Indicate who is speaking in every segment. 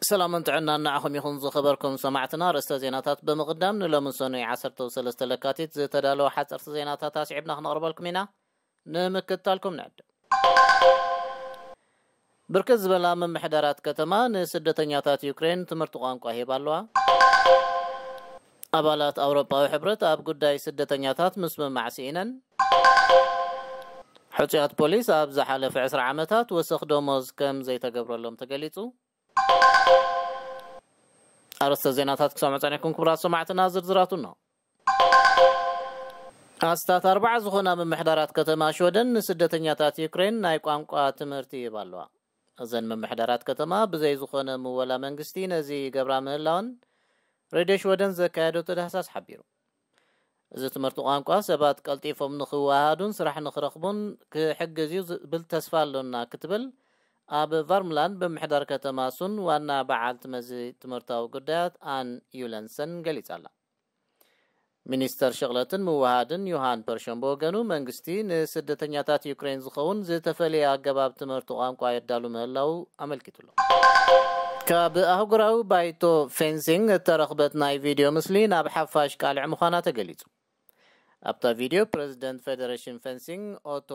Speaker 1: ሰላምን ጥዕናን ንዓኹም ይኹን ዝኸበርኩም ሰማዕትና ኣርእስተ ዜናታት ብምቕዳም ንሎሚ ሰኑይ ዓሰርተው ሰለስተ ለካቲት ዝተዳለወ ሓጸርቲ ዜናታት ኣስዒብና ክንቕርበልኩም ኢና ንምክትታልኩም ንዕድም ብርክት ዝበላ ምምሕዳራት ከተማ ንስደተኛታት ዩክሬን ትምህርቲ ቋንቋ ሂባ ኣለዋ። ኣባላት ኣውሮጳዊ ሕብረት ኣብ ጉዳይ ስደተኛታት ምስምማዕ ስኢነን። ሕጹያት ፖሊስ ኣብ ዝሓለፈ ዕስራ ዓመታት ወሰኽ ደሞዝ ከም ዘይተገብረሎም ተገሊጹ። ኣርእስተ ዜናታት ክሰምዑ ጸኒሕኩም ክቡራት ሰማዕትና ዝርዝራቱ እነሆ። ኣስታት ኣርብዓ ዝኾና ምምሕዳራት ከተማ ሽወደን ንስደተኛታት ዩክሬን ናይ ቋንቋ ትምህርቲ ይህባ ኣለዋ። እዘን ምምሕዳራት ከተማ ብዘይ ዝኾነ ምወላ መንግስቲ ነዚ ይገብራ ምህላወን ሬድዮ ሽወደን ዘካየደቶ ዳህሳስ ሓቢሩ። እዚ ትምህርቲ ቋንቋ ሰባት ቀልጢፎም ንኽወሃሃዱን ስራሕ ንኽረኽቡን ክሕግዝ እዩ ዝብል ተስፋ ኣሎና ክትብል ኣብ ቫርምላንድ ምምሕዳር ከተማ ሱን ዋና በዓልቲ መዚ ትምህርታዊ ጉዳያት ኣን ዩለንሰን ገሊጻ ኣላ። ሚኒስተር ሽቕለትን ምውህሃድን ዮሃን ፐርሸን ብወገኑ፣ መንግስቲ ንስደተኛታት ዩክረይን ዝኸውን ዝተፈልየ ኣገባብ ትምህርቲ ቋንቋ የዳሉ ምህላዉ ኣመልኪቱ'ሎ። ካብ ኣህጉራዊ ባይቶ ፌንሲንግ እተረኽበት ናይ ቪድዮ ምስሊ ናብ ሓፋሽ ቃልዕ ምዃና ተገሊጹ። ኣብታ ቪድዮ፣ ፕረዚደንት ፌደረሽን ፌንሲንግ ኦቶ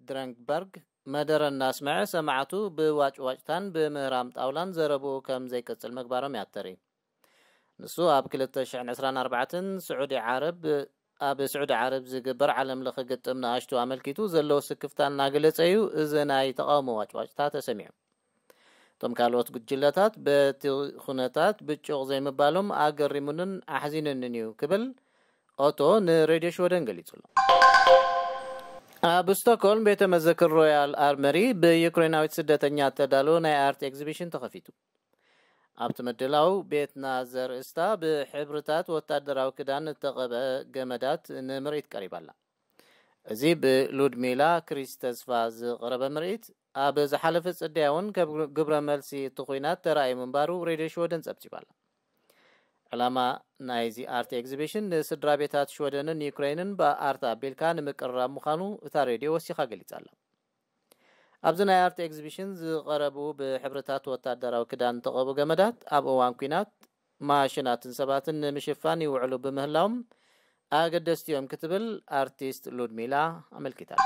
Speaker 1: ድረንግበርግ መደረ እናስመዐ ሰማዕቱ ብዋጭዋጭታን ብምህራም ጣውላን ዘረብኡ ከም ዘይቅጽል ምግባሮም እያ እተርእይ። ንሱ ኣብ ክልተ ሽሕን ዕስራን ኣርባዕተን ስዑዲ ዓረብ ኣብ ስዑዲ ዓረብ ዝግበር ዓለም ለኸ ግጥም ንኣሽቱ ኣመልኪቱ ዘለዎ ስክፍታ እናገለጸ እዩ እዚ ናይ ተቓውሞ ዋጭዋጭታ ተሰሚዑ። እቶም ካልኦት ጉጅለታት በቲ ኩነታት ብጩቕ ዘይምባሎም ኣገሪሙንን ኣሕዚኑንን እዩ ክብል ኦቶ ንሬድዮ ሽወደን ገሊጹ ኣሎ። ኣብ ስቶክሆልም ቤተ መዘክር ሮያል ኣርመሪ ብዩክሬናዊት ስደተኛ እተዳለወ ናይ ኣርት ኤግዚቢሽን ተኸፊቱ። ኣብቲ ምድላው ቤትና ዘርእስታ ብሕብርታት ወታደራዊ ክዳን እተቐብአ ገመዳት ንምርኢት ቀሪባ ኣላ። እዚ ብሉድሚላ ክሪስተስቫ ዝቐረበ ምርኢት፣ ኣብ ዝሓለፈ ጽድያ እውን ከም ግብረ መልሲ እቲ ኲናት ተራእዩ ምንባሩ ሬድዮ ሽወደን ጸብጺባ ኣላ። ዕላማ ናይዚ ኣርት ኤግዚቢሽን ንስድራቤታት ሽወደንን ዩክረይንን ብኣርት ኣቢልካ ንምቅርራብ ምዃኑ እታ ሬድዮ ወሲኻ ገሊጻ ኣላ። ኣብዚ ናይ ኣርት ኤግዚቢሽን ዝቐረቡ ብሕብርታት ወታደራዊ ክዳን ዝተቐቡ ገመዳት ኣብ እዋን ኲናት ማሽናትን ሰባትን ንምሽፋን ይውዕሉ ብምህላዎም ኣገደስቲ እዮም ክትብል ኣርቲስት ሉድሚላ ኣመልኪታል።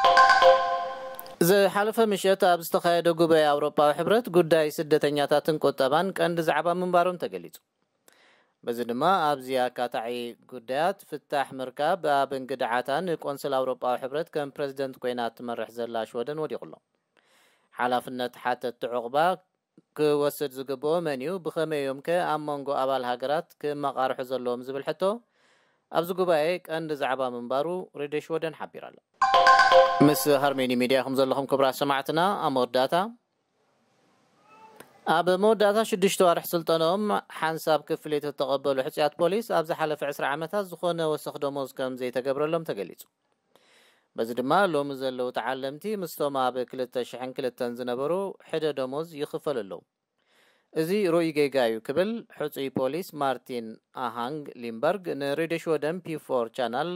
Speaker 1: ዝሓለፈ ምሸት ኣብ ዝተኻየደ ጉባኤ ኣውሮጳዊ ሕብረት ጉዳይ ስደተኛታትን ቁጠባን ቀንዲ ዛዕባ ምንባሮም ተገሊጹ። በዚ ድማ ኣብዚ ኣካታዒ ጉዳያት ፍታሕ ምርካብ ኣብ እንግድዓታ ንቆንስል ኣውሮጳዊ ሕብረት ከም ፕረዚደንት ኮይና እትመርሕ ዘላ ሽወደን ወዲቑ ኣሎ። ሓላፍነት ሓተትቲ ዑቕባ ክወስድ ዝግበኦ መን እዩ፣ ብኸመይ እዮም ከ ኣብ መንጎ ኣባል ሃገራት ክመቓርሑ ዘለዎም ዝብል ሕቶ ኣብዚ ጉባኤ ቀንዲ ዛዕባ ምንባሩ ሬድዮ ሽወደን ሓቢራ ኣላ። ምስ ሃርሜኒ ሚድያ ኢኹም ዘለኹም ክብራት ሰማዕትና። ኣብ መወዳእታ ኣብ መወዳእታ ሽዱሽተ ኣዋርሕ ስልጠንኦም ሓንሳብ ክፍሊት እተቐበሉ ሕጹያት ፖሊስ ኣብ ዝሓለፈ ዕስራ ዓመታት ዝኾነ ወሰኽ ደሞዝ ከምዘይተገብረሎም ተገሊጹ። በዚ ድማ ሎሚ ዘለዉ ተዓለምቲ ምስቶም ኣብ ክልተ ሽሕን ክልተን ዝነበሩ ሕደ ደሞዝ ይኽፈሉ ኣለዉ። እዚ ርኡይ ጌጋ እዩ ክብል ሕጹይ ፖሊስ ማርቲን ኣሃንግ ሊምበርግ ንሬድዮ ሽወደን ፒ ፎር ቻናል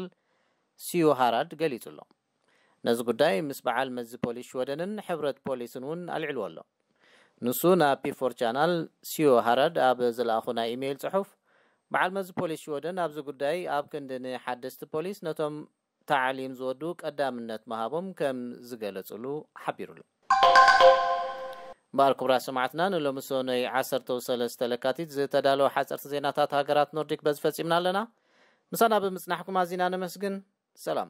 Speaker 1: ስዩሃራድ ገሊጹ ኣሎ። ነዚ ጉዳይ ምስ በዓል መዚ ፖሊስ ሽወደንን ሕብረት ፖሊስን እውን ኣልዒልዎ ኣሎ። ንሱ ናብ ፒፎር ቻናል ስዮ ሃራድ ኣብ ዝለኣኾ ናይ ኢመይል ጽሑፍ፣ በዓል መዚ ፖሊስ ሽወደን ኣብዚ ጉዳይ ኣብ ክንዲ ንሓደስቲ ፖሊስ ነቶም ታዕሊም ዝወድኡ ቀዳምነት ምሃቦም ከም ዝገለጽሉ ሓቢሩ ኣሎ። እምበኣር ክቡራት ሰማዕትና ንሎሚ ሰኑይ ዓሰርተው ሰለስተ ለካቲት ዝተዳለወ ሓጸርቲ ዜናታት ሃገራት ኖርዲክ በዚ ፈጺምና ኣለና። ምሳና ብምጽናሕኩም ኣዚና ነመስግን። ሰላም።